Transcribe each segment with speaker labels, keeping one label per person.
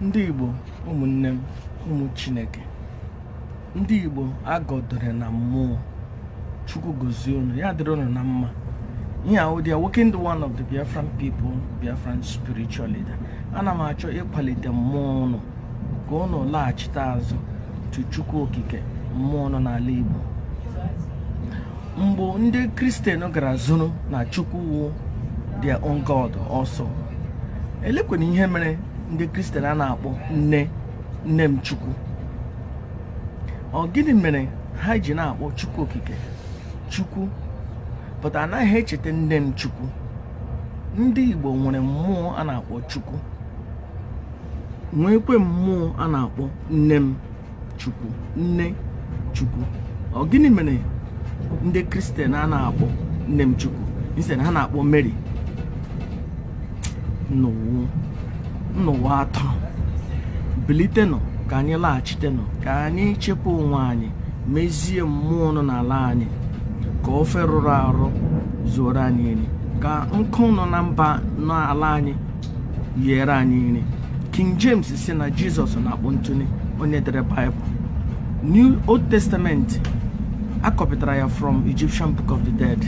Speaker 1: ndị igbo ụmụnne m ụmụ chineke ndị igbo agọdore na mmụọ chukwu gozie unu ya dịrị unu na mma ihe ahụ dị ya nwoke ndị one of the biafran people biafran spiritual leader ana m achọ ịkwalite mmụọ unu ka unu laghachite azụ to Chukwu Okike mmụọ nọ n'ala Igbo mgbe ndị kristian gara zuru na Chukwu wụ their own God also elekwana ihe mere ndị kristian a na-akpọ nne nne m Chukwu ọ gịnị mere ha ji na-akpọ Chukwu Okike Chukwu but anaghị echeta nne m Chukwu ndị Igbo nwere mmụọ a na-akpọ Chukwu nwekwe mmụọ a na-akpọ nne m chukwu nne chukwu ọ gịnị mere ndị kristian a na-akpọ nne m chukwu instead ha na-akpọ mary n'ụwa taa bilitenụ ka anyị laghachitenụ ka anyị chekwa onwe anyị mezie mmụọ nọ n'ala anyị ka ofe rụrụ arụ zuoro anyị nri ka nkụ nọ na mba n'ala anyị yere anyị nri king james sị na jizọs na-akpọ ntụnye onye dere baịbụl new old testament a kọpụtara ya from egyptian book of the dead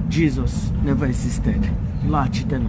Speaker 1: jesus never existed laghachitenụ